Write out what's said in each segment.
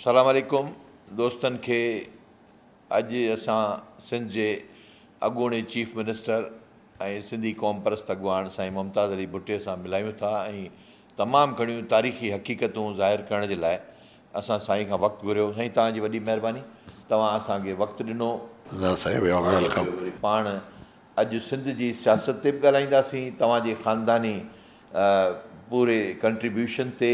سلام عليڪم دوستن کي اڄ اسان سنڌ جي اڳوڻي چيف منسٽر ۽ سنڌي قوم پرست اڳواڻ سائين ممتاز علي ڀٽي سان ملايون ٿا ۽ تمام گھڻيون تاريخي حقيقتون ظاهر ڪرڻ جي لاء اسان سائين کان وقت گھريو سائين توهان جي وڏي مهرباني توهان اسان کي وقت ڏنو نا سائين ويو ويل ڪم پاڻ اڄ سنڌ جي سياست تي به ڳالهائينداسين توهان جي خانداني پوري ڪنٽريبيوشن تي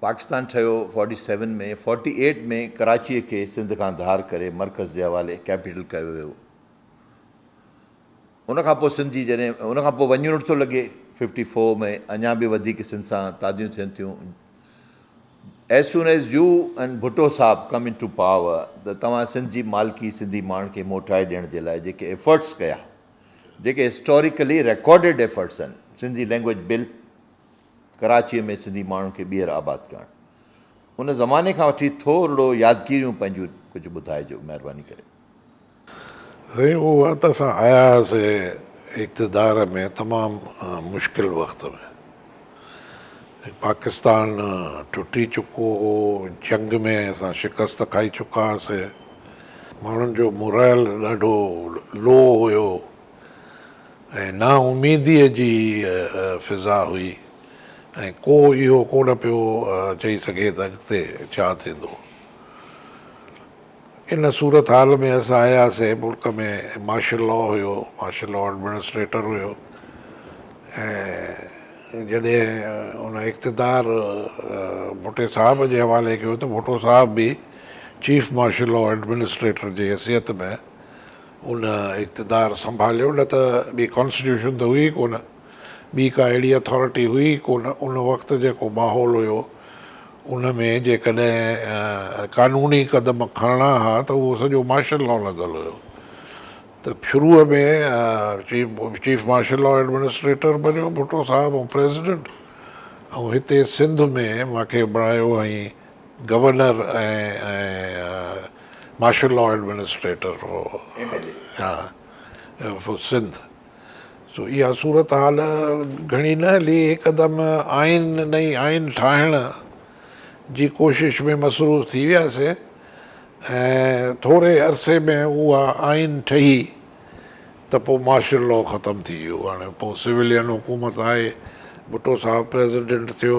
پاڪستان ٺهيو فورٽي سيون ۾ فورٽي ايٽ ۾ ڪراچيء کي سنڌ کان ڌار ڪري مرڪز جي حوالي ڪيپيٽل ڪيو ويو ان کان پوء سنڌ جي جڏهن ان کان پوء وڃڻ ٿو لڳي ففٽي فور ۾ اڃا به وڌيڪ سنڌ سان تاديون ٿين ٿيون as soon as you and Bhutto صاحب ڪم ان ٽو پاور ته توهان سنڌ جي مالڪي سنڌي ماڻهن کي موٽائي ڏيڻ جي لاء جيڪي ايفرٽس ڪيا جيڪي هسٽوريڪلي ريڪارڊيڊ ايفرٽس آهن سنڌي لينگويج بل ڪراچيء ۾ سنڌي ماڻهن کي ٻيهر آباد ڪرڻ. ان زماني کان وٺي ٿورڙو يادگيريون پنهنجون ڪجهه ٻڌائجو مهرباني ڪري. سائين اهو وقت اسان آيا هئاسي اقتدار ۾ تمام مشڪل وقت ۾ پاڪستان ٽٽي چڪو هو جنگ ۾ اسان شڪست کائي چڪا هئاسي ماڻهن جو مورائل ڏاڍو لو هيو ۽ نا اميديء جي فضا هئي ۽ ڪو اهو ڪونه پيو چئي سگهي ته اڳتي ڇا ٿيندو. ان صورتحال ۾ اسان آياسين، ملڪ ۾ مارشل لا هيو، مارشل لا ايڊمنسٽريٽر هيو ۽ جڏهن ان اقتدار ڀٽي صاحب جي حوالي ڪيو ته ڀٽو صاحب به چيف مارشل لا ايڊمنسٽريٽر جي حيثيت ۾، ان اقتدار سنڀاليو نه ته ٻي ڪانسٽيٽيوشن ته هئي ئي ڪونه ٻي ڪا اهڙي اٿارٽي هئي ئي ڪونه ان وقت جيڪو ماحول هيو ان ۾ جيڪڏهن قانوني قدم کڻڻا ها ته اهو سڄو مارشل لا لڳل هيو ته شروع ۾ چيف مارشل لا ايڊمنسٽريٽر بنيو ڀٽو صاحب ۽ پريزيڊنٽ ۽ هتي سنڌ ۾ مون کي بڻايو ۽ گورنر ۽ مارشل لا ايڊمنسٽريٽر هو سنڌ سو اها صورتحال گهڻي نه هلي هڪدم آئين نئين آئين ٺاهڻ جي ڪوشش ۾ مصروف ٿي وياسين ۽ ٿوري عرصي ۾ اها آئين ٺهي ته پوء مارشل لا ختم ٿي ويو هاڻي پوء سولين حڪومت آئي ڀٽو صاحب پريزيڊنٽ ٿيو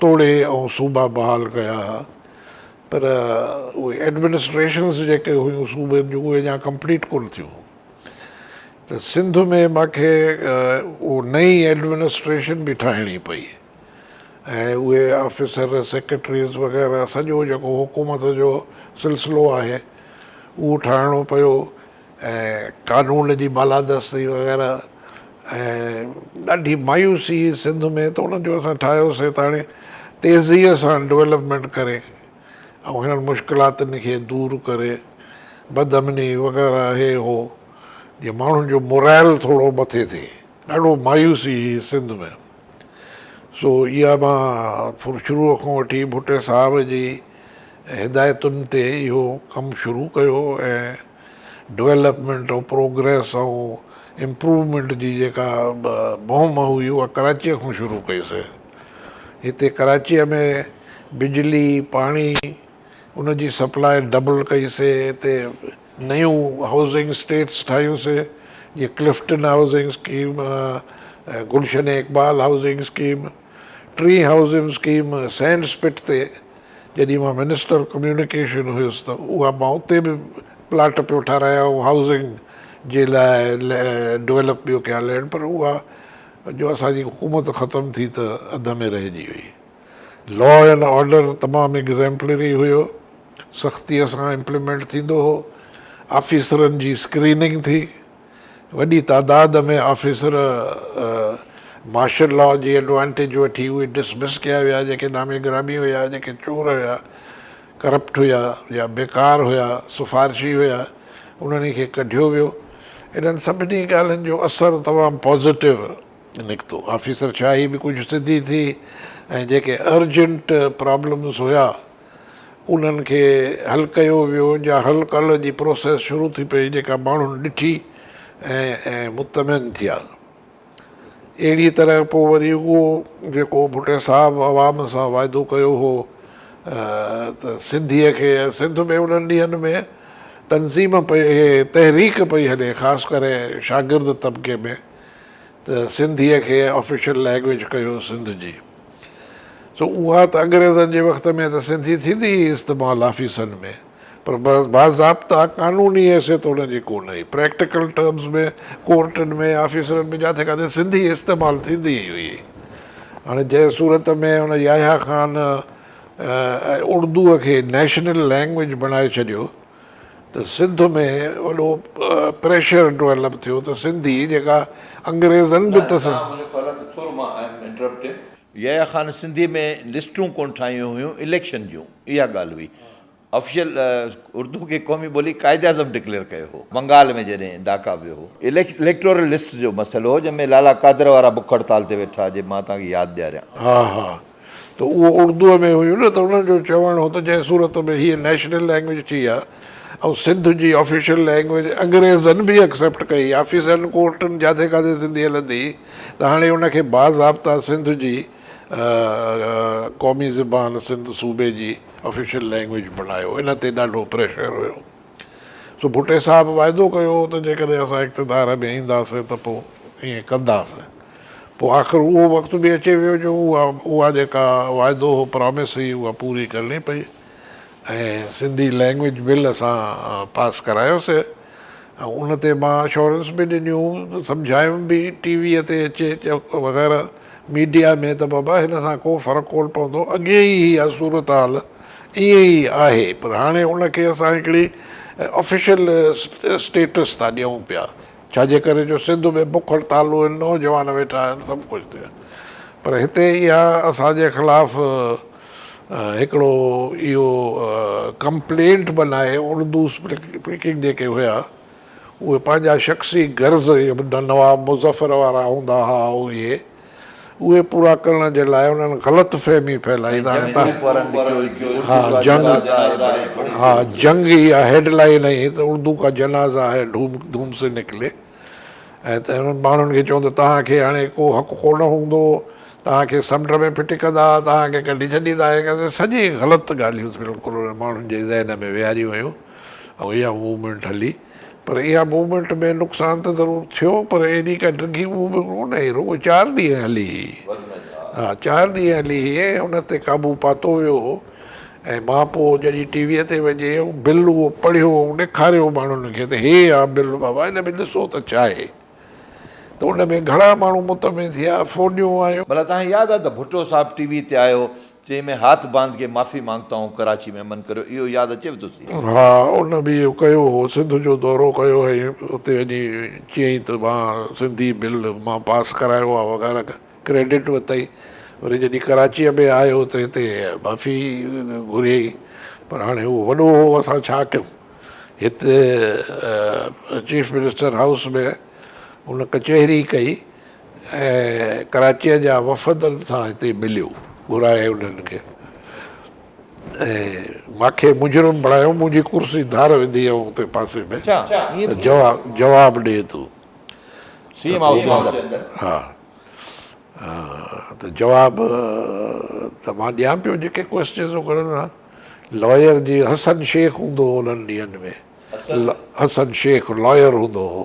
توڙي ۽ صوبا بحال ڪيا ها پر اهي ايڊمنسٽريشنز جيڪي هيون صوبن جون اهي اڃا ڪمپليٽ ڪونه ٿيون هيون ته سنڌ ۾ مان کي اهو نئين ايڊمنسٽريشن به ٺاهڻي پئي ۽ اهي آفيسر سيڪريٽريز وغيره سڄو جيڪو حڪومت جو سلسلو آهي اهو ٺاهڻو پيو ۽ قانون جي بالادستي وغيره ۽ ڏاڍي مايوسي هئي سنڌ ۾ ته انهن جو اسان ٺاهيوسين ته هاڻي تيزيء سان ڊولپمينٽ ڪري ۽ هنن مشڪلاتن کي دور ڪري بد امني وغيره هي هو جي ماڻهن جو مورائل ٿورو مٿي ٿئي ڏاڍو مايوسي هئي سنڌ ۾ سو اها مان شروع کان وٺي ڀٽي صاحب جي هدايتن تي اهو ڪم شروع ڪيو ۽ ڊولپمينٽ آف پروگريس ۽ امپروومينٽ جي جيڪا مهم هئي اها ڪراچيء کان شروع ڪئي سي هتي ڪراچيء ۾ بجلي پاڻي ان جي سپلاء ڊبل ڪئي سي هتي نيون هائوسنگ اسٽيٽس ٺاهيون سي جيئن Clifton housing scheme ۽ Gulshan Iqbal housing scheme. ٽري هائوسنگ اسڪيم سينڊ اسپٽ تي جڏهن مان منسٽر ڪميونيڪيشن هيس ته اها مان اتي به پلاٽ پيو ٺهرايا ۽ هائوسنگ جي لاء ڊويلپ پيو ڪيا لينڊ پر اها جو اسان جي حڪومت ختم ٿي ته اڌ ۾ رهجي وئي. لا اينڊ آرڊر تمام ايگزيمپلري هيو، سختيء سان امپلمينٽ ٿيندو هو، آفيسرن جي اسڪريننگ ٿي، وڏي تعداد ۾ آفيسر مارشل لا جي ايڊوانٽيج وٺي اهي ڊسمس ڪيا ويا جيڪي نامي گرامي هيا، جيڪي چور هيا، ڪرپٽ هيا يا بيڪار هيا، سفارشي هيا، انهن کي ڪڍيو ويو. انهن سڀني ڳالهين جو اثر تمام پازيٽو نڪتو. آفيسر شاهي به ڪجهه سڌي ٿي ۽ جيڪي ارجنٽ پرابلمز هيا. انهن کي حل ڪيو ويو جا حل ڪل جي پروسيس شروع ٿي پئي جيڪا ماڻهن ڏٺي ۽ مطمئن ٿيا اهڙي طرح پوء وري اهو جيڪو ڀٽي صاحب عوام سان واعدو ڪيو هو ته سنڌي کي سنڌ ۾ انهن ڏينهن ۾ تنظيم پئي تحريڪ پئي هلي خاص ڪري شاگرد طبقي ۾ ته سنڌي کي آفيشل لينگويج ڪيو سنڌ جي سو اها ته انگريزن جي وقت ۾ ته سنڌي ٿيندي هئي استعمال آفيسن ۾ پر باضابطا قانوني حيثيت ان جي ڪونه هئي. پريڪٽيڪل ٽرمز ۾ ڪورٽن ۾ آفيسن ۾ جاٿي ڪاٿي سنڌي استعمال ٿيندي ئي هئي. هاڻي جنهن صورت ۾ ان يحيٰ خان اڙدوء کي نيشنل لينگويج بڻائي ڇڏيو ته سنڌ ۾ وڏو پريشر ڊويلپ ٿيو ته سنڌي جيڪا انگريزن به تسليم. يحيٰ خان سنڌي ۾ لسٽون ڪونه ٺاهيون هيون اليڪشن جون اها ڳالهه هئي آفيشل اردو کي قومي ٻولي قائد اعظم ڊڪليئر ڪيو هو بنگال ۾ جڏهن ڊاڪا ويو هو. اليڪٽورل لسٽ جو مسئلو هو جنهن ۾ لالا قادر وارا بک هڙتال تي ويٺا جي مان توهان کي ياد ڏياريان. ها ها ته اهو اردوء ۾ هيو نه ته انهن جو چوڻ هو ته جنهن صورت ۾ هيء نيشنل لئنگويج ٿي آ ۽ سنڌ جي آفيشل لئنگويج انگريزن به اڪسيپٽ ڪئي آفيسن ڪورٽن جاٿي ڪاٿي سنڌي هلندي ته هاڻي ان کي باضابطا سنڌ جي قومي زبان سنڌ صوبي جي آفيشل لئنگويج بڻايو ان تي ڏاڍو پريشر هيو. سو ڀٽي صاحب واعدو ڪيو هو ته جيڪڏهن اسان اقتدار ۾ اينداسين ته پوء ائين ڪنداسين. پوء آخر اهو وقت به اچي ويو جو اها اها جيڪا واعدو هو پرامس هئي اها پوري ڪرڻي پئي ۽ سنڌي لئنگويج بل اسان پاس ڪرايو سي ۽ ان تي مان اشورنس به ڏنيون سمجهايم به ٽي ويء تي اچي وغيره ميڊيا ۾ ته بابا هن سان ڪو فرق ڪون پوندو اڳي ئي اها صورتحال ائين ئي آهي پر هاڻي ان کي اسان هڪڙي آفيشل اسٽيٽس ٿا ڏيون پيا ڇا جي ڪري جو سنڌ ۾ بک هڙتال آهن نوجوان ويٺا آهن سڀ ڪجهه ٿيو پر هتي اها اسان جي خلاف هڪڙو اهو ڪمپلينٽ بنائي اردو اسپيڪنگ جيڪي هيا اهي پنهنجا شخصي غرض جيڪي نواب مظفر وارا هوندا ها اهي اهي پورا ڪرڻ جي لاء انهن غلط فهمي ڦهلائي ته ها جنگ هي اها هيڊ لائين هي ته اردو ڪا جنازه هي ڌوم ڌوم سي نڪلي ۽ ته انهن ماڻهن کي چون ته توهان کي هاڻي ڪو حق ڪونه هوندو توهان کي سمنڊ ۾ ڦٽي ڪندا توهان کي ڪڍي ڇڏيندا اهي سڄي غلط ڳالهيون بلڪل انهن ماڻهن جي ذهن ۾ ويهاريون ويون ۽ اها موومينٽ هلي پر اها موومينٽ ۾ نقصان ته ضرور ٿيو پر ايڏي ڪا ڊگهي موومينٽ ڪونه هئي رڳو چار ڏينهن هلي هئي ها چار ڏينهن هلي هئي ۽ ان تي قابو پاتو ويو هو ۽ مان پوء جڏهن ٽي ويء تي وڃي بل اهو پڙهيو ۽ ڏيکاريو ماڻهن کي ته هي آ بل بابا هن ۾ ڏسو ته ڇا آهي ته ان ۾ گهڻا ماڻهو مطمئن ٿيا فوجيون آيون. ڀلا توهان کي ياد آهي ته ڀٽو صاحب ٽي ويء تي آيو چين ۾ هاٿ باند ڪي معافي مانگتا هون ڪراچي ۾ امن ڪريو اهو ياد اچيو ٿو سي. ها ان به اهو ڪيو هو سنڌ جو دورو ڪيو هئي اتي وڃي چيائين ته مان سنڌي بل مان پاس ڪرايو آ وغيره ڪريڊٽ ورتائين وري جڏهن ڪراچيء ۾ آيو ته هتي معافي گهريائين پر هاڻي اهو وڏو هو اسان ڇا ڪيون هت چيف منسٽر هائوس ۾ ان ڪچهري ڪئي. ۽ ڪراچيء جا وفد سان هتي مليو، گهرائي انهن کي ۽ ماکي مجرم بڻايو، منهنجي ڪرسي ڌار وڌي ۽ اتي پاسي ۾ جواب ڏي ته سي ايم هائوس جي اندر ها ته جواب ته مان ڏيان پيو جيڪي ڪوئسچنز هو کڻن ها لائر جي حسن شيخ هوندو هو انهن ڏينهن ۾ حسن شيخ لائر هوندو هو.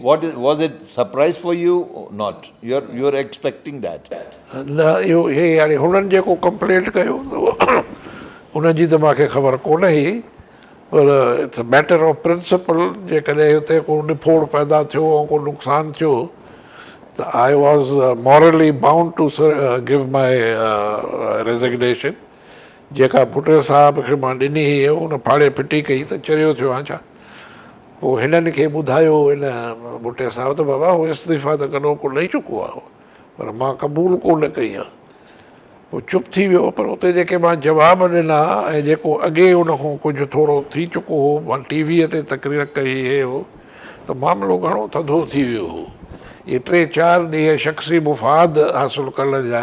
What is was it surprise for you not your your expecting that. نه اهو هي يعني هنن جيڪو ڪمپلينٽ ڪيو ان جي ته مان کي خبر ڪونه هئي پر it's a matter of principle جيڪڏهن هتي ڪو نڦوڙ پيدا ٿيو ۽ ڪو نقصان ٿيو ته I was morally bound to give my resignation جيڪا ڀٽو صاحب کي مان ڏني هئي، ان ڦاڙي ڦٽي ڪئي ته چريو ٿيو آهيان ڇا؟ پوء هنن کي ٻڌايو ان ڀٽي صاحب ته بابا هو استعيفيٰ ته ڪڏهو ڪو ڏئي چڪو آهي پر مان قبول ڪو نه ڪئي آهي. هو چپ ٿي ويو پر اتي جيڪي مان جواب ڏنا ۽ جيڪو اڳي ان کان ڪجهه ٿورو ٿي چڪو هو مان ٽي ويء تي تقرير ڪئي هئي هو ته معاملو گهڻو ٿڌو ٿي ويو هو. اهي ٽي چار ڏينهن شخصي مفاد حاصل ڪرڻ جا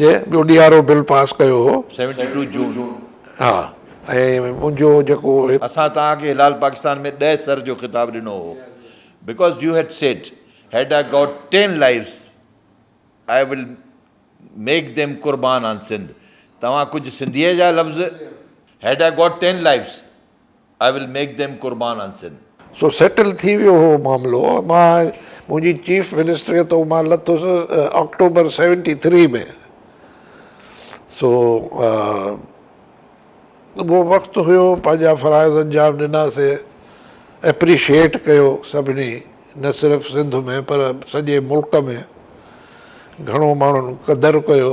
جي ٻيو ڏي آر او بل پاس ڪيو هو. سيونٽي ٽو جون. ها ۽ منهنجو جيڪو. اسان توهان کي هلال پاڪستان ۾ ڏهه سر جو خطاب ڏنو هو because you had said had I got ten lives I will make them قربان آن سنڌ توهان ڪجهه سنڌيء جا لفظ head I got ten لائيفز. I will make them قربان ان سن. سو سيٽل ٿي ويو هو معاملو مان منهنجي چيف منسٽريء تان مان لٿس آڪٽوبر سيونٽي ٿري ۾ سو اهو وقت هيو پنهنجا فرائض انجام ڏناسي اپريشيئيٽ ڪيو سڀني نه صرف سنڌ ۾ پر سڄي ملڪ ۾ گهڻو ماڻهن قدر ڪيو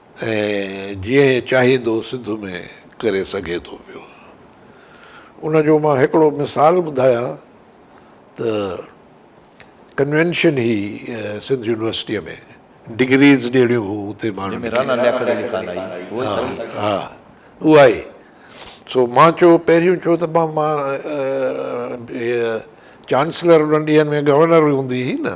۽ جيئن چاهيندو سنڌ ۾ ڪري سگهي ٿو پيو. ان جو مان هڪڙو مثال ٻڌايان ته ڪنوينشن هئي سنڌ يونيورسٽيء ۾ ڊگريز ڏيڻيون هيون اتي ماڻهن کي. رانا لياقت علي خان آئي اهو سهي. ها اها ئي. سو مان چيو پهريون چيو ته مان چانسلر انهن ڏينهن ۾ گورنر هوندي هئي نه.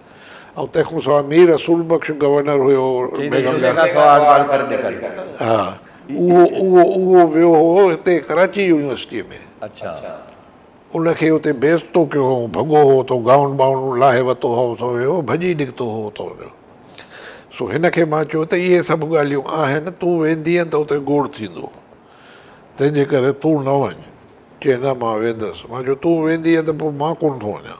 ۽ تنهن کان سواء مير رسول بخش گورنر هيو بيگم اهو ويو هو هتي ڪراچي يونيورسٽيء ۾ ان کي اتي بيعزتو ڪيو هئائون ڀڳو هو اتو گائون ٻائون لاهي وتو هو سو ويو ڀڄي نڪتو هو اتان جو سو هن کي مان چيو ته اهي سڀ ڳالهيون آهن تون ويندينء ته اتي گوڙ ٿيندو تنهن جي ڪري تون نه وڃ چيئي نه مان ويندس مان چيو تون ويندينء ته پوء مان ڪونه ٿو وڃان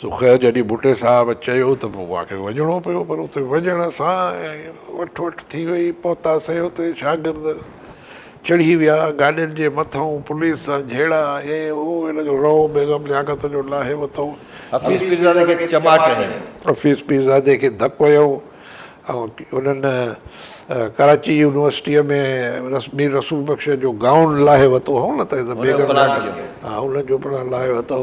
سو خير جڏهن ڀٽي صاحب چيو ته پوء آخر وڃڻو پيو پر اتي وڃڻ سان وٺ وٺ ٿي وئي پهتاسين اتي شاگرد چڙهي ويا گاڏين جي مٿئون پوليس سان جهيڙا هي هو ان جو رئو بيگم لياقت جو لاهي وتو حفيظ پيرزادي کي چماٽ هنيو. حفيظ پيرزادي کي ڌڪ هنيو ۽ انهن ڪراچي يونيورسٽيء ۾ مير رسول بخش جو گائون لاهي وتو هئو نه ته بيگم لياقت ان جو پڻ لاهي وتو.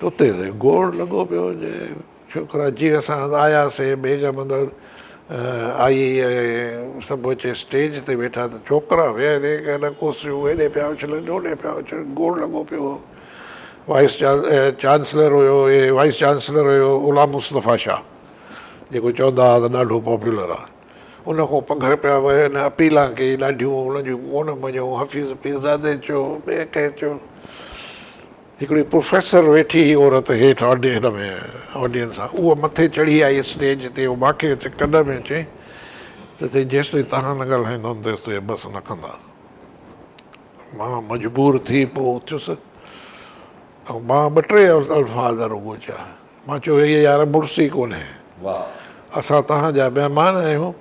توتي تي گوڙ لڳو پيو هجي. ڇوڪرا جي اسان آياسين بيگم اندر آئي ۽ سڀ اچي اسٽيج تي ويٺا ته ڇوڪرا ويهن هي ڪن ڪرسيون هيڏي پيا اڇلن هوڏي پيا اڇلن گوڙ لڳو پيو هو وائيس چانسلر هيو اهي وائيس چانسلر هيو غلام مصطفيٰ شاهه جيڪو چوندا هئا ته ڏاڍو پاپولر آهي ان کان پگهر پيا وهن اپيلان ڪئي ڏاڍيون ان جون ڪونه مڃيو حفيظ پيرزادي چيو ٻئي ڪنهن چيو هڪڙي پروفيسر ويٺي هئي عورت هيٺ هن ۾ آڊينس سان اها مٿي چڙهي آئي اسٽيج تي اها ماکي اچي ڪن ۾ چيائين ته سائين جيستائين توهان نه ڳالهائيندؤن تيستائين بس نه ڪندا مان مجبور ٿي پوء اٿيس ۽ مان ٻه ٽي الفاظ رڳو چيا مان چيو هيء يار مڙس ئي ڪونهي اسان توهان جا مهمان آهيون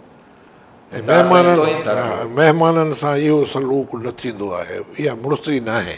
مهمانن سان اهو سلوڪ نه ٿيندو آهي اها مڙس ئي ناهي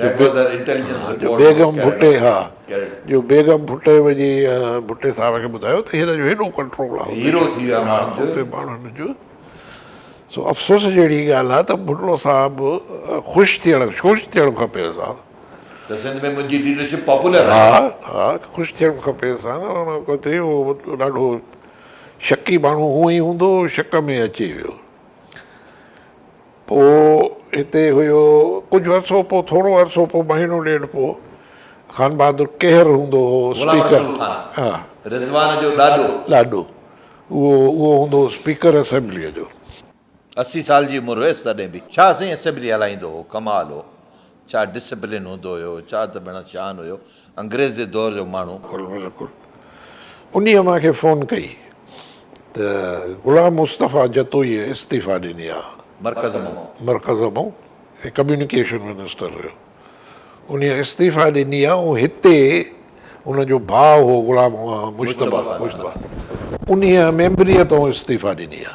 جو بيگم ڀٽي ها جو بيگم ڀٽي وڃي ڀٽي صاحب کي ٻڌايو ته هن جو هيڏو ڪنٽرول آهي هيرو ٿي ويا ماڻهن جو سو افسوس جهڙي ڳالهه آهي ته ڀٽو صاحب خوش ٿيڻ خوش ٿيڻ کپي انسان ته سنڌ ۾ منهنجي ليڊرشپ پاپولر ها ها خوش ٿيڻ کپي انسان ان کان ٿي هو ڏاڍو شڪي ماڻهو هو ئي هوندو شڪ ۾ اچي ويو پوء هتي هيو ڪجهه عرصو پوء ٿورو عرصو پوء مهينو ڏيڍ پوء خانبهادر ڪيهر هوندو هو اسپيڪر ها رضوان جو ڏاڏو ڏاڏو اهو اهو هوندو هو اسپيڪر اسيمبليء جو. اسي سال جي عمر هيس تڏهن به شاهه سائين اسيمبلي هلائيندو هو ڪمال هو ڇا ڊسپلين هوندو هيو، ڇا ته ڀيڻان شان هيو، انگريز جي دور جو ماڻهو. بلڪل بلڪل انهي مان کي فون ڪئي ته غلام مصطفي جتوئي استعيفا ڏني آ. مرڪز مئو. مرڪز مئو هي ڪميونيڪيشن منسٽر هيو انهي استعيفا ڏني آ ۽ هتي ان جو ڀاء هو غلام مجتبا مجتبا انهي ميمبريء تان استعيفا ڏني آ.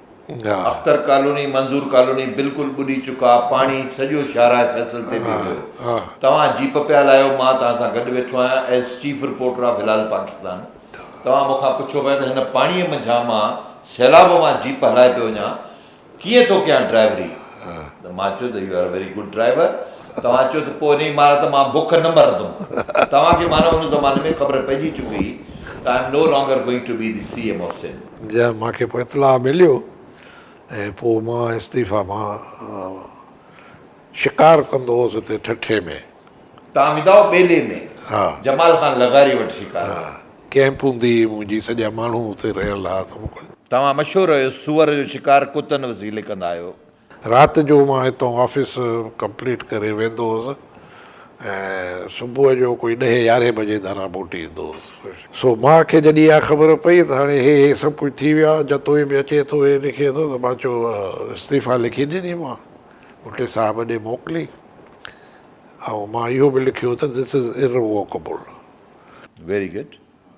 گا. اختر ڪالوني، منظور ڪالوني بلڪل ٻڏي چڪا، پاڻي سڄو شاهراهه فيصل تي به ويو. توهان جيپ پيا هلايو، مان توهان سان گڏ ويٺو آهيان as chief reporter of Hilal Pakistan. توهان مون کان پڇو پيا ته هن پاڻيء منجهان مان سيلاب مان جيپ هلائي پيو وڃان، ڪيئن ٿو ڪيان ڊرائيوري؟ ته مان چيو ته you are very good driver, توهان چيو ته پوء انهي مارا ته مان بک نه مرندم. توهان کي معنيٰ ان زماني ۾ خبر پئجي چڪي هئي ته I am no longer going to be the C M of Sindh. جيئن مان کي اطلاع مليو ۽ پوء مان استعيفيٰ مان شڪار ڪندو هوس اتي ٺٺي ۾. تانگداو ٻيلي ۾، جمال خان لغاري وٽ شڪار ڪيو. ڪيمپ هوندي هئي منهنجي، سڄا ماڻهو اتي رهيل هئا. توهان مشهور آهيو سوئر جو شڪار ڪتن وسيلي ڪندا آهيو، رات جو مان هتان آفيس ڪمپليٽ ڪري ويندو هوس ۽ صبح جو ڪوئي ڏهين يارهين بجي ڌران موٽي ايندو هوس. سو ماء کي جڏهن اها خبر پئي ته هاڻي هي هي سڀ ڪجهه ٿي ويو آهي، جتوئي به اچي ٿو هي لکي ٿو ته مان چيو استعيفا لکي ڏني مان ڀٽي صاحب ڏي موڪلي ۽ مان اهو به لکيو ته This is irrevocable. Very good.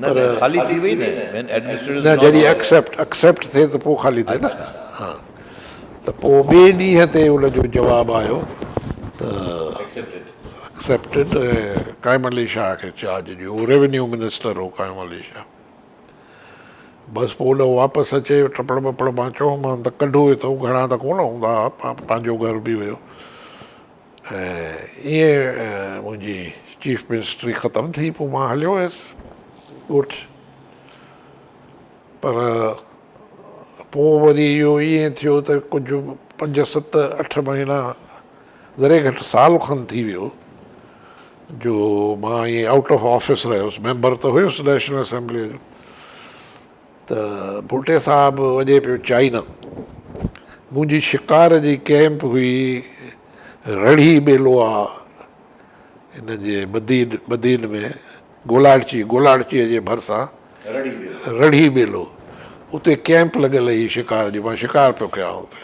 پر نه جڏهن اڪسيپٽ Accept ٿئي ته پوء خالي ٿئي نه ها ته پوء ٻئي ڏينهن تي ان جو جواب آيو ته Accepted ۽ قائم علي شاهه کي چارج ڏيو هو ريونيو منسٽر هو قائم علي شاهه بس پوء ان واپس اچي ٽپڙ ٻپڙ مان چيو مان ته ڪڍو اٿئون گهڻا ته ڪونه هوندا ها پنهنجو گهر به هيو ۽ ائين منهنجي چيف منسٽري ختم ٿي پوء مان هليو ويس ڳوٺ پر پوء وري اهو ائين ٿيو ته ڪجهه پنج ست اٺ مهينا ذري گهٽ سال کن ٿي ويو جو مان ائين آئوٽ آف آفيس رهيس ميمبر ته هيس نيشنل اسيمبليء جو ته ڀٽي صاحب وڄي پيو چائنا. منهنجي شڪار جي ڪئمپ هئي رڙهي ٻيلو آ هن جي بدين ۾ گولاڙچي گولاڙچي جي ڀرسان رڙهي ٻيلو اتي ڪئمپ لڳل هئي شڪار جي مان شڪار پيو ڪيان اتي.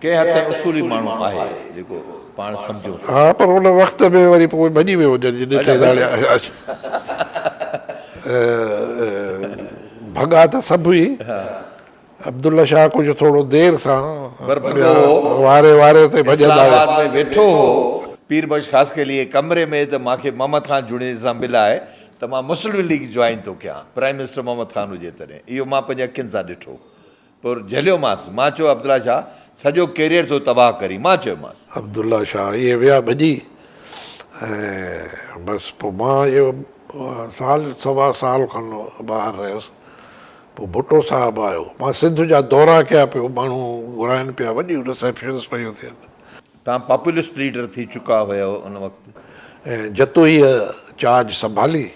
ڪنهن حد تائين اصولي ماڻهو آهي جيڪو پاڻ سمجهون ٿا. ها پر ان وقت ۾ وري پوء ڀڄي ويو هجڻ جي ڏٺ ڌاڙي آهي. ڀڳا ته سڀ هئي. عبدالله شاهه ڪجهه ٿورو دير سان واري واري تي ڀڄندا ويا. اسلام آباد ۾ ويٺو هو. پير بخش خاص ڪي ليئي ڪمري ۾ ته مان کي محمد خان جوڻيجي سان ملائي ته مان مسلم ليگ جوائن ٿو ڪيان. پرائيم منسٽر محمد خان هجي تڏهن. اهو مان پنهنجي اکين سان ڏٺو. پر جهليومانس. مان چيو عبدالله شاهه سڄو ڪيريئر ٿو تباهه ڪرين. مان چيومانس. عبدالله شاهه ائين ويا ڀڄي ۽ بس پوء مان اهو سال سوا سال کن ٻاهر رهيس. پوء ڀٽو صاحب آيو. مان سنڌ جا دورا ڪيا پيو ماڻهو گهرائن پيا وڏيون رسيپشنس پيون ٿين. توهان پاپولسٽ ليڊر ٿي چڪا هيئو ان وقت. ۽ جتوئيء چارج سنڀالي.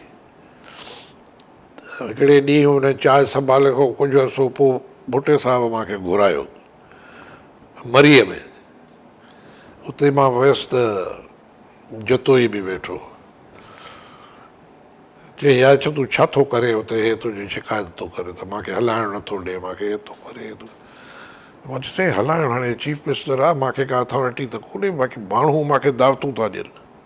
هڪڙي ڏينهن هن چاهه سنڀالڻ کان ڪجهه عرصو پوء ڀٽي صاحب مان کي گهرايو مريء ۾. اتي مان ويس ته جتوئي به ويٺو. چيائين، يار ڇا تون ڇا ٿو ڪرين اتي، هي تنهنجي شڪايت ٿو ڪري ته مان کي هلائڻ نه ٿو ڏئي، مان کي هي ٿو ڪري، هي ٿو. مان چيس، سائين هلائڻ هاڻي چيف منسٽر آ، مان کي ڪا اٿارٽي ته ڪونهي، باقي ماڻهو مان کي دعوتون ٿا ڏين.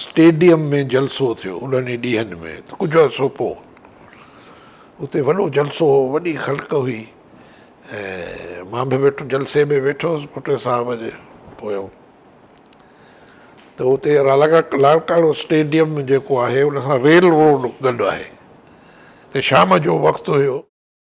اسٽيڊيم ۾ جلسو ٿيو انهن ئي ڏينهن ۾ ته ڪجهه عرصو پوء اتي وڏو جلسو هو وڏي خلق هئي ۽ مان به ويٺو جلسي ۾ ويٺو هوس ڀٽو صاحب جي پوء ته اتي لال ڪاڙو اسٽيڊيم جيڪو آهي ان سان ريل روڊ گڏ آهي ته شام جو وقت هيو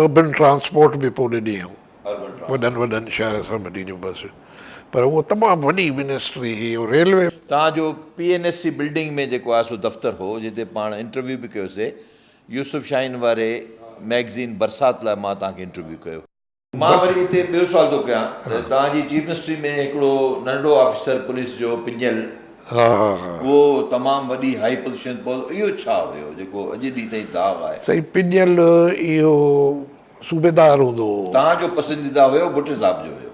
اربن ٽرانسپورٽ به پوء ڏني هئائون وڏن وڏن شهر سان وڏي جون بسيون پر اهو تمام وڏي منسٽري هئي ۽ ريلوي. تان جو P N S C building ۾ جيڪو آء ايس او دفتر هو جتي پاڻ انٽرويو به ڪيو سي يوسف شاهين واري مئگزين برسات لاء مان تان کي انٽرويو ڪيو. مان وري اتي ٻيو سوال ٿو ڪيان ته تان جي چيف منسٽري ۾ هڪڙو ننڍڙو آفيسر پوليس جو پڃيل ها ها ها. اهو تمام وڏي هائي پوزيشن پول اهو ڇا هيو جيڪو اڄ ڏينهن تائين داغ آهي. سائين پڄيل اهو صوبيدار هوندو هو. توهان جو پسنديده هيو ڀٽي صاحب جو هيو.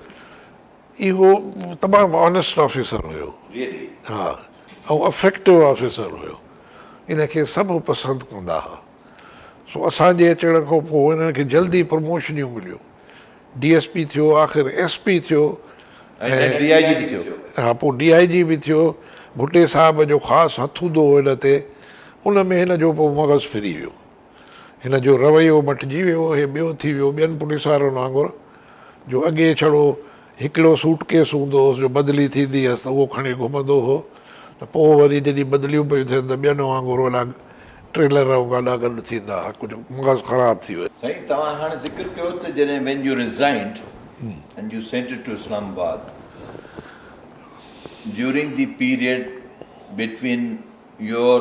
اهو تمام آنيسٽ آفيسر هيو. ريئلي. ها ۽ افيڪٽو آفيسر هيو ان کي سڀ پسند ڪندا ها سو اسان جي اچڻ کان پوء انهن کي جلدي پروموشنيون مليون. ڊي ايس پي ٿيو آخر ايس پي ٿيو ۽ ڊي آء جي به ٿيو ها پوء ڊي آء جي به ٿيو ڀٽي صاحب جو خاص هٿ هوندو هو هن تي ان ۾ هن جو پوء مغز ڦري ويو هن جو رويو مٽجي ويو هي ٻيو ٿي ويو ٻين پوليس وارن وانگر جو اڳي ڇڙو هڪڙو سوٽ ڪيس هوندو هوس جو بدلي ٿيندي هيس ته اهو کڻي گهمندو هو ته پوء وري جڏهن بدليون پيون ٿين ته ٻين وانگر اهي لاڳ ٽريلر ۽ گاڏا گڏ ٿيندا هئا ڪجهه مغز خراب ٿي ويو. سائين توهان هاڻ ذڪر ڪيو ته جڏهن when you resigned and you sent it to Islamabad during the period between your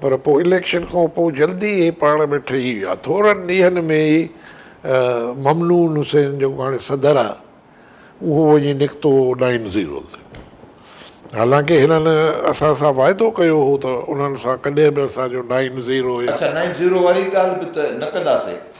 پر پوء اليڪشن کان پوء جلدي ئي پاڻ ۾ ٺهي ويا. ٿورن ڏينهن ۾ ئي ممنون حسين جيڪو هاڻي صدر آهي اهو وڃي نڪتو نائن زيرو تي. حالانڪه هنن اسان سان واعدو ڪيو هو ته انهن سان ڪڏهن به اسان جو نائن زيرو يا. اڇا نائن زيرو واري ڳالهه به ته نه ڪنداسين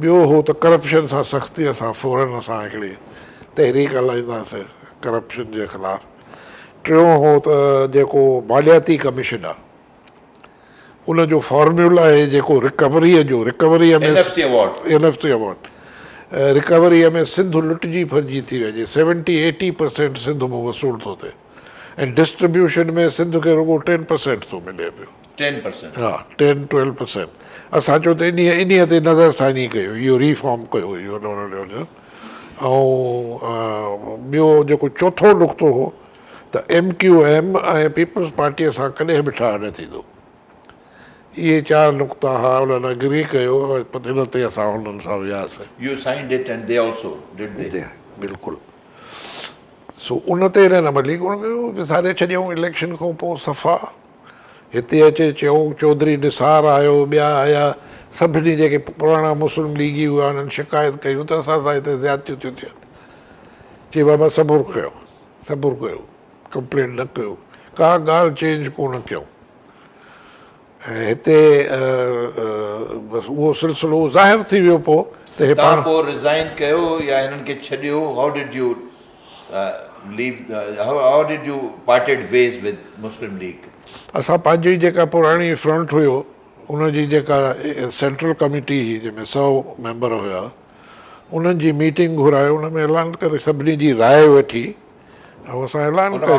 ٻيو هو ته ڪرپشن سان سختي سان فورن اسان هڪڙي تحريڪ هلائينداسين ڪرپشن جي خلاف ٽيون هو ته جيڪو مالياتي ڪميشن آ ان جو فارميولا هي جيڪو رڪوري جو recovery ۾ N F C award recovery ۾ Sindh لٽجي ڦرجي ٿي وڃي سيونٽي ايٽي پرسينٽ سنڌ مون وصول ٿو ٿئي ۽ ڊسٽربيوشن ۾ سنڌ کي رڳو ٽين پرسينٽ ٿو ملي پيو. ٽين پرسينٽ ها ٽين ٽويلو پرسينٽ اسان چون ته انهي انهي تي نظر ثاني ڪيو اهو ري فارم ڪيو اهو ۽ ٻيو جيڪو چوٿون نقطو هو ته M Q M ۽ Peoples Party سان ڪڏهن به ٺاهه نه ٿيندو اهي چار نقطا ها انهن اگري ڪيو ان تي اسان انهن سان وياسين you signed it and they also did the they بلڪل سو ان تي انهن عملي ڪونه ڪيو وساري ڇڏيائون اليڪشن کان پوء صفا هتي اچي چيو، چوڌري نثار آيو، ٻيا آيا، سڀني جيڪي پراڻا مسلم ليگي هئا، انهن شڪايت ڪيون ته اسان سان هتي زيادتيون ٿيون ٿين. چي بابا صبر ڪيو، صبر ڪيو، ڪمپلينٽ نه ڪيو، ڪا ڳالهه چينج ڪونه ڪيو ۽ هتي بس اهو سلسلو ظاهر ٿي ويو پوء ته هي پاڻ. تان پوء رزائن ڪيو يا هنن کي ڇڏيو، هاء ڊڊ يو. اسان پنهنجي جيڪا پراڻي فرنٽ هيو ان جي جيڪا سينٽرل ڪميٽي هئي جنهن ۾ سؤ ميمبر هيا انهن جي ميٽنگ گهرائي ان ۾ اعلان ڪري سڀني جي راء وٺي ۽ اسان اعلان ڪيو.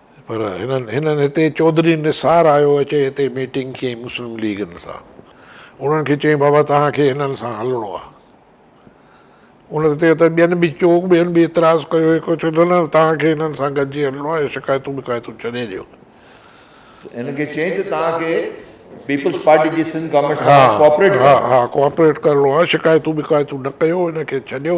پر هنن هنن هتي چوڌري نثار آيو اچي هتي ميٽنگ ڪئي مسلم ليگن سان انهن کي چيائين بابا توهان کي هنن سان هلڻو آ ان تي ته ٻين به چوڪ ٻين به اعتراض ڪيو هڪ چيو نه نه توهان کي هنن سان گڏجي هلڻو آ شڪايتون ٻڪايتون ڇڏي ڏيو ته هنن کي چيائين ته توهان کي پيپلز پارٽي جي سنڌ گورنمينٽ سان ڪوآپريٽ ڪرڻو آ ڪوآپريٽ ڪرڻو آ شڪايتون ٻڪايتون نه ڪيو هن کي ڇڏيو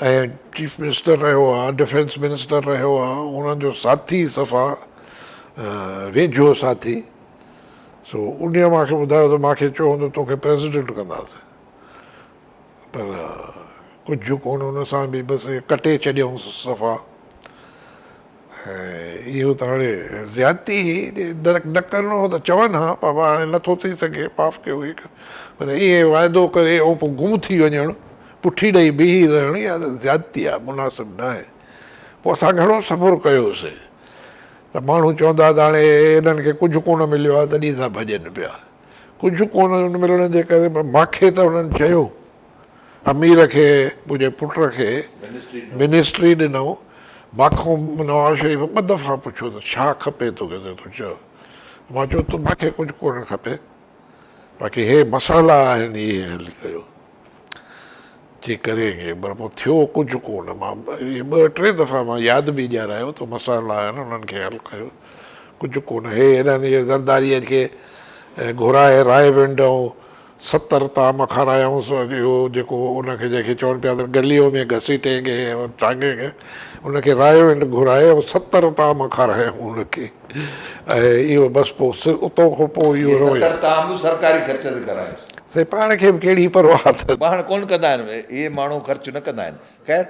۽ چيف منسٽر رهيو آ ڊفينس منسٽر رهيو آ انهن جو ساٿي صفا ويجهو ساٿي سو ان مان کي ٻڌايو ته مان کي چيو هوندو تو کي پريزيڊنٽ ڪنداسين پر ڪجهه ڪون ان سان به بس ڪٽي ڇڏيائونس صفا اهو ته هاڻي زيادتي هئي، جي نه ڪرڻو هو ته چون ها، پر هاڻي نه ٿو ٿي سگهي، معاف ڪيو هيڪ پر ائين واعدو ڪري ۽ پوء گم ٿي وڃڻ، پٺي ڏئي بيهي رهڻ اها ته زيادتي آهي، مناسب ناهي. پوء اسان گهڻو صبر ڪيوسين ته ماڻهو چوندا ها ته هاڻي هنن کي ڪجهه ڪونه مليو آهي تڏهن ٿا ڀڄن پيا. ڪجهه ڪونه ملڻ جي ڪري ماکي ته هنن چيو. امير کي پنهنجي پٽ کي منسٽري ڏنائون، مانکون نواز شريف ٻه دفعا پڇيو ته ڇا کپي توکي ته تون چئو، مان چيو ته مانکي ڪجهه ڪونه کپي باقي هي مسئلا آهن اهي حل ڪيو جي ڪري گي پر پوء ٿيو ڪجهه ڪونه مان اهي ٻه ٽي دفعا مان ياد به ڏيارايو ته مسئلا آهن انهن کي حل ڪيو ڪجهه ڪونه هي هيڏانهن زرداريء کي گهرائي راهي ونڊ ۽ ستر طعام کارايائونس، اڄ اهو جيڪو ان کي جنهن کي چون پيا ته گليو ۾ گهسيٽي گي اور ٽانگي گي، ان کي رايو انڊ گهرائي ۽ ستر طعام کارايائون ان کي ۽ اهو بس پوء سر اتو کان پوء اهو رويو. ستر طعام به سرڪاري خرچ تي کارايائونس. سائين پاڻ کي به ڪهڙي پرواهه اٿس. پاڻ ڪونه ڪندا آهن اهي ماڻهو خرچ نه ڪندا آهن. خير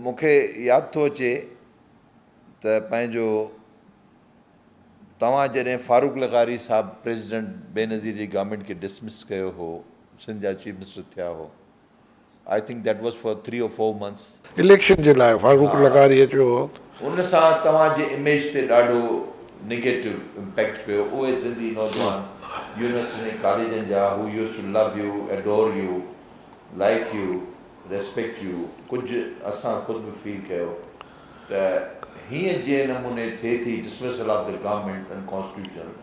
مون کي ياد ٿو اچي ته پنهنجو. توهان جڏهن فاروق لغاري صاحب پريزيڊنٽ بينظير جي گورنمينٽ کي ڊسمس ڪيو هو سنڌ جا چيف منسٽر ٿيا هو I think that was for three or four months election جي لاء فاروق لغاري اچيو هو. ان سان توهان جي اميج تي ڏاڍو نيگيٽو امپيڪٽ پيو اهي سنڌي نوجوان يونيورسٽين ۽ ڪاليجن جا هو used to love you adore you like you respect you ڪجهه اسان خود به فيل ڪيو ته هيئن جنهن نموني ٿئي ٿي dismissal of the government in constitution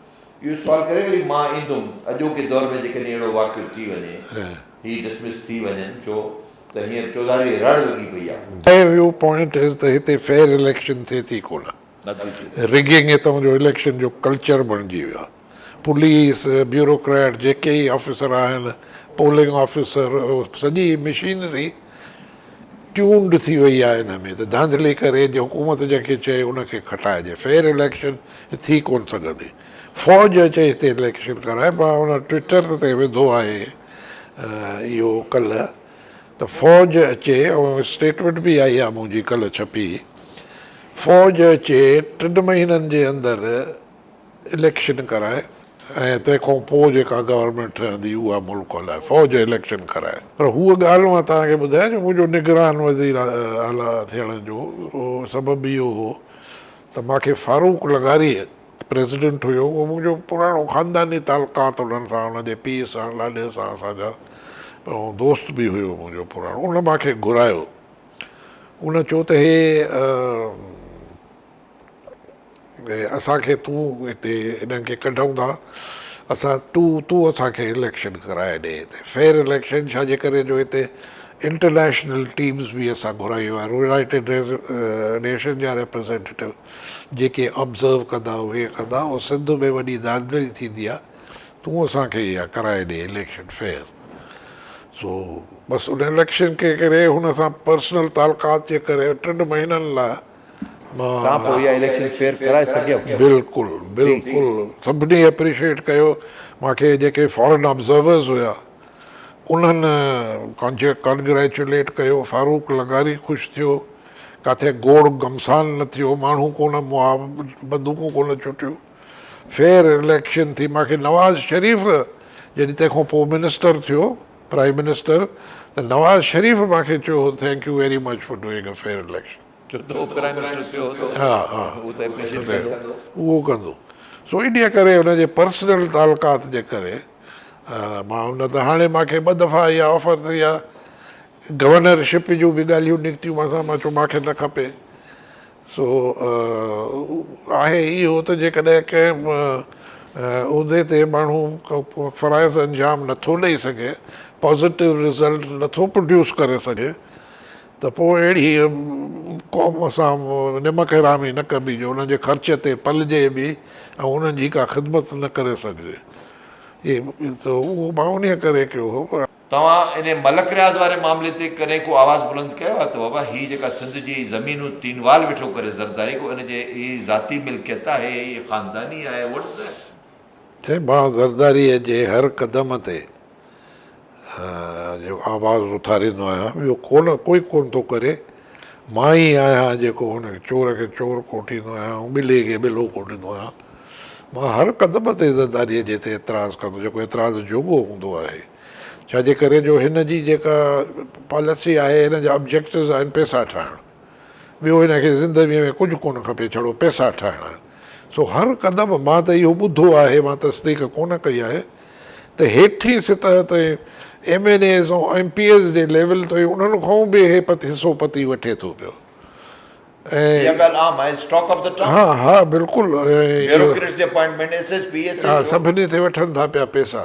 اهو سوال ڪري وري مان ايندم اڄوڪي دور ۾ جيڪڏهن اهڙو واقعو ٿي وڃي هي ڊسمس ٿي وڃن ڇو ته هينئر چوڌاري رڙ لڳي پئي آهي. دي ويو پوائنٽ از ته هتي فيئر اليڪشن ٿئي ٿي ڪونه رگنگ هتان جو اليڪشن جو ڪلچر بڻجي ويو آهي. پوليس، بيوروڪريٽ، جيڪي ئي آفيسر آهن، پولنگ آفيسر، سڄي مشينري ٽيونڊ ٿي وئي آهي ان ۾ ته ڌانڌلي ڪري جي حڪومت جنهن کي چئي ان کي کٽائجي. فيئر اليڪشن ٿي ڪونه سگهندي. فوج اچي هتي اليڪشن ڪرائي مان ان ٽوئيٽر تي وڌو آهي اهو ڪلهه ته فوج اچي ۽ اسٽيٽمينٽ به آئي آهي منهنجي ڪلهه ڇپي فوج اچي ٽن مهينن جي اندر اليڪشن ڪرائي ۽ تنهن کان پوء جيڪا گورنمينٽ ٺهندي اها ملڪ هلائي، فوج اليڪشن ڪرائي. پر هوء ڳالهه مان توهان کي ٻڌايان جو منهنجو نگران وزير اعليٰ ٿيڻ جو سبب اهو هو ته مان کي فاروق لغاري پريزيڊنٽ هيو اهو منهنجو پراڻو خانداني تعلقات انهن سان ان جي پيء سان لاڏي سان اسان جا ۽ دوست به هيو منهنجو پراڻو ان مان کي گهرايو ان چيو ته هي اسان کي تون هتي انهن کي ڪڍئون ٿا اسان ٽو تون اسان کي اليڪشن ڪرائي ڏي هتي فيئر اليڪشن ڇا جي ڪري جو هتي انٽرنيشنل ٽيمز به اسان گهرايون آهن يونائيٽيڊ نيشن جا ريپريزينٽيو جيڪي آبزرو ڪندا اهي ڪندا او سنڌ ۾ وڏي دانگري ٿيندي آهي تون اسان کي اها ڪرائي ڏي اليڪشن فيئر سو بس ان اليڪشن کي ڪري هن سان پرسنل تعلقات جي ڪري ٽن مهينن لاء کان پوء اها اليڪشن فيئر ڪرائي سگهيو. بلڪل بلڪل سڀني اپريشيٽ ڪيو مان کي جيڪي فارن آبزرورز هيا انهن ڪانگريچوليٽ ڪيو فاروق لغاري خوش ٿيو ڪاٿي گوڙ گمسان نه ٿيو ماڻهو ڪونه مئا بندوقون ڪونه ڇٽيون فيئر اليڪشن ٿي مان کي نواز شريف جڏهن تنهن کان پوء منسٽر ٿيو پرائيم منسٽر ته نواز شريف مان کي چيو هو thank you very much for doing a fair election. اهو ڪندو سو انهي ڪري ان جي پرسنل تعلقات جي ڪري مان ان ته هاڻي مان کي ٻه دفعا اها آفر ته اها گورنر شپ جون به ڳالهيون نڪتيون مان سان مان چيو مان کي نه کپي سو آهي اهو ته جيڪڏهن ڪنهن عهدي تي ماڻهو فرائض انجام نٿو ڏئي سگهي پازيٽو رزلٽ نٿو پروڊيوس ڪري سگهي ته پوء اهڙيء قوم سان نمڪ حرامي نه ڪبي جو انهن جي خرچ تي پلجي به ۽ انهن جي ڪا خدمت نه ڪري سگهجي. ته اهو مان انهيء ڪري ڪيو هو. توهان انهيء ملڪ رياض واري معاملي تي ڪڏهن ڪو آواز بلند ڪيو آهي ته بابا هي جيڪا سنڌ جي زمينون تينوال ويٺو ڪري زرداري ڪو ان جي هي ذاتي ملڪيت آهي هي خانداني آهي What's that؟ چيم مان زرداريء جي هر قدم تي جو آواز اٿاريندو آهيان ٻيو ڪونه ڪوئي ڪونه ٿو ڪري مان ئي آهيان جيڪو هن چور کي چور ڪوٺيندو آهيان ۽ ٻلي کي ٻلو ڪوٺيندو آهيان مان هر قدم تي زرداريء جي تي اعتراض ڪندو جيڪو اعتراض جوڳو هوندو آهي ڇا جي ڪري جو هن جي جيڪا پاليسي آهي هن جا آبجيڪٽس آهن پيسا ٺاهڻ ٻيو هن کي زندويء ۾ ڪجهه ڪونه کپي ڇڙو پئسا ٺاهڻا آهن سو هر قدم مان ته اهو ٻڌو آهي مان تصديق ڪونه ڪئي آهي ته هيٺين سطح تي M N As ۽ M P As جي ليول تي انهن کان به هي حصو پتي وٺي ٿو پيو ۽ اها ڳالهه عام آهي اسٽاڪ آف دي ٽائون ها ها بلڪل ۽ اهو بيوروڪريٽس جي appointment S S P S H O ها سڀني تي وٺن ٿا پيا پئسا.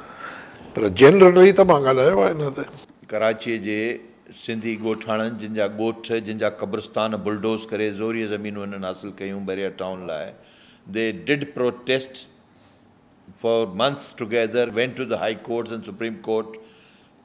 پر جنرل رهي ته مان ڳالهايو آهي نه ته. ڪراچيء جي سنڌي ڳوٺاڻن جن جا ڳوٺ، جن جا قبرستان بلڊوز ڪري زوريء زمينون هنن حاصل ڪيون بحريه ٽائون لاء They did protest for months together, went to the high courts and supreme court.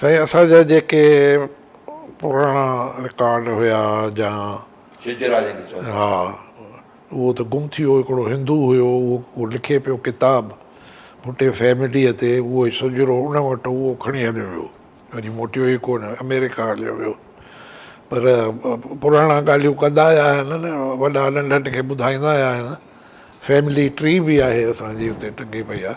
سائين اسان جا جيڪي پراڻا رڪارڊ هيا جا شجرا جنهن کي چئبو آهي ها اهو ته گم ٿي ويو هڪڙو هندو هيو اهو لکي پيو ڪتاب ڀٽي فيمليء تي اهو شجرو ان وٽ هو اهو کڻي هليو ويو وري موٽيو ئي ڪونه آمريڪا هليو ويو پر پراڻا ڳالهيون ڪندا آيا آهن نه وڏا ننڍن کي ٻڌائيندا آيا آهن فيملي ٽري به آهي اسان جي اتي ٽنگي پئي آهي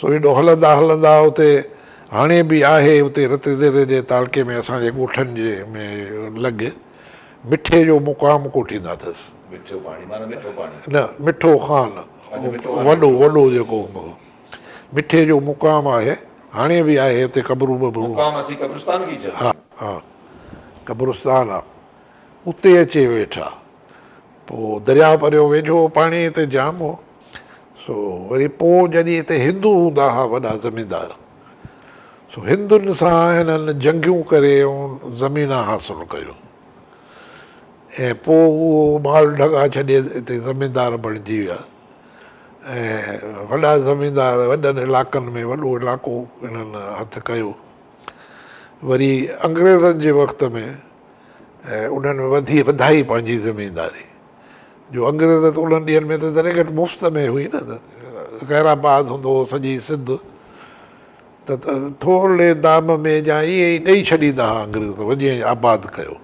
سو هيڏو هلندا هلندا اتي هاڻي به آهي اتي رت ديري جي تعلقي ۾ اسان جي ڳوٺن جي ۾ لڳ مٺي جو مقام ڪوٺيندا اٿس. مٺو پاڻي معنيٰ مٺو پاڻي. نه مٺو خان وڏو وڏو جيڪو هوندو هو. مٺي جو مقام آهي هاڻي به آهي اتي قبرون ٻبرون. مقام اسين قبرستان کي چئبو. ها ها قبرستان آ اتي اچي ويٺا. پوء درياهه پريو ويجهو هو، پاڻي هتي جام هو، سو وري پوء جڏهن هتي هندو هوندا ها وڏا زميندار، سو هندن سان هنن جنگيون ڪري اون زمينا حاصل ڪيو ۽ پوء اهو مال ڍڳا ڇڏي هتي زميندار بڻجي ويا ۽ وڏا زميندار وڏن علاقن ۾ وڏو علاقو هنن هٿ ڪيو. وري انگريزن جي وقت ۾. ۽ انهن ۾ وڌي وڌائي پنهنجي زمينداري جو انگريز ته انهن ڏينهن ۾ ته ذري گهٽ مفت ۾ هئي نه ته خير آباد هوندو هو سڄي سنڌ ته ٿورڙي دام ۾ جا ائين ئي ڏئي ڇڏيندا ها انگريز ته وڃي ائين آباد ڪيو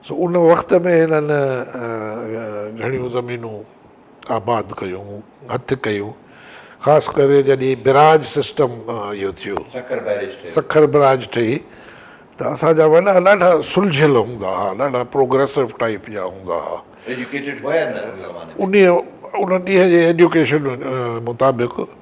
سو ان وقت ۾ هنن گهڻيون زمينون آباد ڪيو هٿ ڪيو خاص ڪري جڏهن بئراج سسٽم اهو ٿيو سکر بئراج ٺهي ته اسان جا وڏا ڏاڍا سلجهيل هوندا ها ڏاڍا پروگريسو ٽائيپ جا هوندا ها ان ڏينهن جي ايجوڪيشن مطابق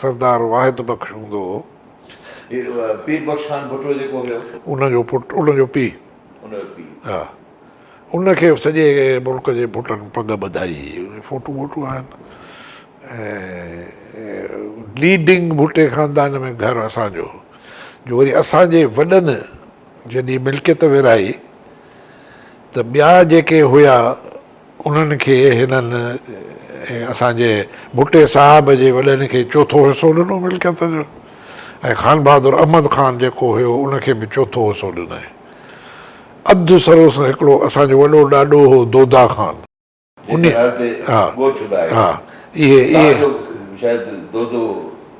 سردار واحد بخش هوندو هو. پير بخش خان ڀٽو جيڪو هيو. ان جو پٽ، ان جو پيء. ان جو پيء. ها. ان کي سڄي ملڪ جي ڀٽن پڳ ٻڌائي. فوٽو ووٽو آهن. ۽ ليڊنگ ڀٽي خاندان ۾ گهر اسان جو هو. جو وري اسان جي وڏن جڏهن ملڪيت ورهائي ته ٻيا جيڪي هيا انهن کي هنن اسان جي ڀٽي صاحب جي وڏن کي چوٿون حصو ڏنو ملڪيت جو ۽ خان بهادر احمد خان جيڪو هيو ان کي به چوٿون حصو ڏنائين. اڌ سروس هڪڙو اسان جو وڏو ڏاڏو هو دودا خان. جنهن کي نالي تي ڳوٺ به آهي. اهي اهي. تان جو شايد دودو.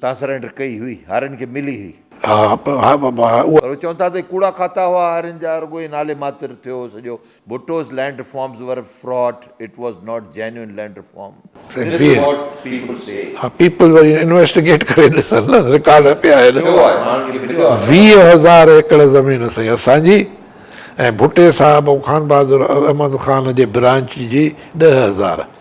تان سرينڊر ڪئي هئي. هارين کي ملي هئي. ها ها بابا ها اها. پر چون ٿا ته ڪوڙا کاتا هئا هارين جا رڳو هي نالي ماتر ٿيو هو سڄو. ڀٽوز land reforms were a fraud it was not genuine land reform. This is what people see. ها پيپل وري انويسٽيگيٽ ڪري ڏسن نه رڪارڊ پيا آهن. ٿيو آهي ماڻهن کي مليو آهي. ويهه هزار ايڪڙ زمين سائين اسان جي ۽ ڀٽي صاحب ۽ خانبهادر احمد خان جي برانچ جي ڏهه هزار.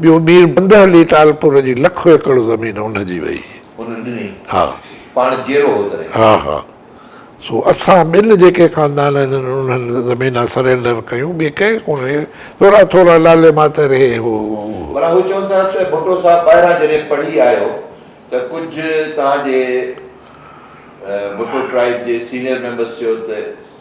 ٻيو مير بنده علي ٽالپور جي لکو ايڪڙ زمين ان جي وئي. هن ڏني. ها. پاڻ جيئرو هو تڏهن. ها ها. سو اسان ٻن جيڪي خاندان هنن انهن زمينا سرينڊر ڪيون ٻي ڪنهن ڪونهي. ٿورا ٿورا لالي ماتر هي هو اهو. معنيٰ هو چون ٿا ته ڀٽو صاحب ٻاهران جڏهن پڙهي آيو ته ڪجهه توهان جي ڀٽو ٽرائيب جي سينيئر ميمبرس چيو ته.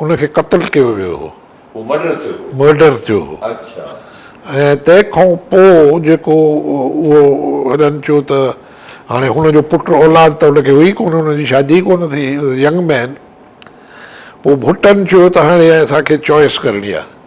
ان کي قتل ڪيو ويو هو. هو مرڊر ٿيو هو. مرڊر ٿيو هو. اڇا. ۽ تنهن کان پوء جيڪو اهو هڏن چيو ته هاڻي هن جو پٽ اولاد ته هن کي هئي ڪونه، هن جي شادي ئي ڪونه ٿي، ينگ مين. پوء ڀٽن چيو ته هاڻي اسان کي چوائس ڪرڻي آهي.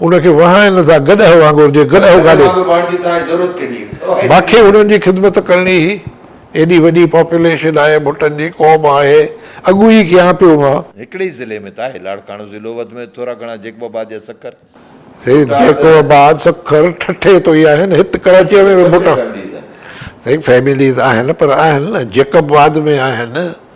ان کي وهائن ٿا گڏهه وانگر جي گڏهه گاڏي. ماکي هنن جي خدمت ڪرڻي هي. ايڏي وڏي پاپوليشن آهي ڀٽن جي قوم آهي اڳ ئي ڪيان پيو مان. هڪڙي ئي ضلعي ۾ ته آهي لاڙڪاڻو ضلعو وڌ ۾ وڌ ٿورا گهڻا جيڪب آباد يا سکر. سيد جيڪب آباد سکر ٺٽي تو ئي آهن هت ڪراچيء ۾ به ڀٽا سائين فيمليز آهن پر آهن نه جيڪب آباد ۾ آهن.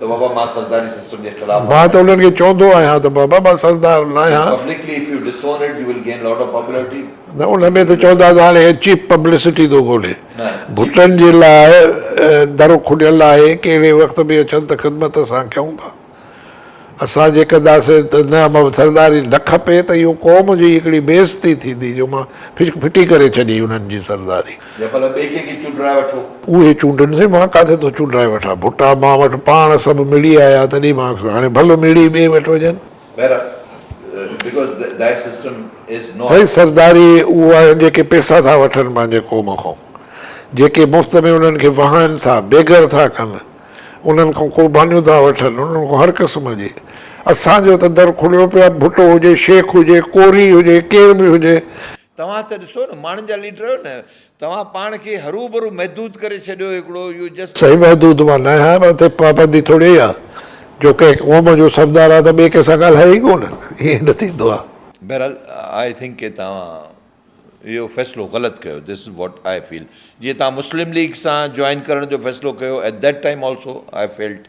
ته بابا مان سرداري سسٽم جي خلاف آهيان. مان ته انهن کي چوندو آهيان ته بابا مان سردار ناهيان. Publicly if you disown it you will gain lot of popularity. نه ان ۾ ته چوندا ته هاڻي هي چيپ پبلسٽي ٿو ڳولي. ڀٽن جي لاء درو کليل آهي ڪهڙي وقت به اچن ته خدمت اسان ڪيون ٿا. اسان جي ڪنداسين ته نه مان سرداري نه کپي ته اهو قوم جي هڪڙي بي عزتي ٿيندي جو مان ڦٽي ڪري ڇڏي انهن جي سرداري. يا ڀلا ٻئي ڪنهن کي چونڊرائي وٺو. اهي چونڊن سي، مان ڪاٿي ٿو چونڊرائي وٺان. ڀٽا مان وٽ پاڻ سڀ مڙئي آيا، تڏهن مان کيس هاڻي ڀل مڙئي ٻئي وٽ وڃن. بهرحال Because that system is not. ڀاء سرداري اهو آهن جيڪي پيسا ٿا وٺن پنهنجي قوم کان، جيڪي مفت ۾ انهن کي وهائن ٿا، بيگر ٿا ڪن، انهن کان قربانيون ٿا وٺن، انهن کان هر قسم جي. اسان جو ته در کليو پيو آهي، ڀٽو هجي، شيخ هجي، ڪوري هجي، ڪير به هجي. توهان ته ڏسو نه ماڻهن جا ليڊر آهيو نه توهان پاڻ کي هروڀرو محدود ڪري ڇڏيو هڪڙو اهو جس. سائين محدود مان ناهي ها پر اتي پابندي ٿوري اها جو ڪنهن قوم جو سردار آهي ته ٻئي ڪنهن سان ڳالهائي ئي ڪونه ائين نه ٿيندو آهي. بهرحال آئي ٿنڪ ڪي توهان اهو فيصلو غلط ڪيو دس از واٽ آئي فيل جيئن توهان مسلم ليگ سان جوائن ڪرڻ جو فيصلو ڪيو at that time also I felt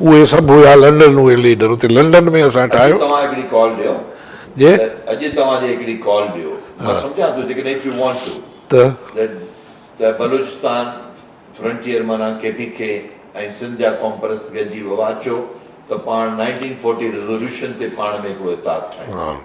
اهي سڀ هيا لنڊن اهي ليڊر اتي لنڊن ۾ اسان ٺاهيو. اڄ توهان هڪڙي ڪال ڏيو جي. ته اڄ توهان جي هڪڙي ڪال ڏيو مان سمجهان ٿو جيڪڏهن اف يو وانٽ ٽو ته ته بلوچستان فرنٽيئر معنيٰ ڪي پي ڪي ۽ سنڌ جا قوم پرست گڏجي ويو اچو ته پاڻ نائنٽين فورٽي ريزوليوشن تي پاڻ ۾ هڪڙو اتحاد ٺاهيون.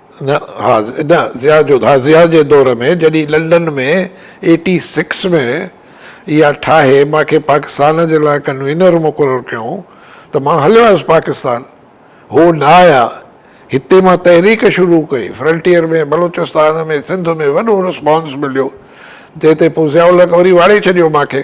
نه ها نه ضياء جو ها ضياء جي دور ۾ جڏهن لنڊن ۾ ايٽي سڪس ۾ اها ٺاهي مان کي پاڪستان جي لاء ڪنوينر مقرر ڪيائون ته مان هليو آيس پاڪستان هو نه آيا هتي مان تحريڪ شروع ڪئي فرنٽيئر ۾ بلوچستان ۾ سنڌ ۾ وڏو رسپانس مليو جنهن تي پوء ضياء الحق وري واڙي ڇڏيو مان کي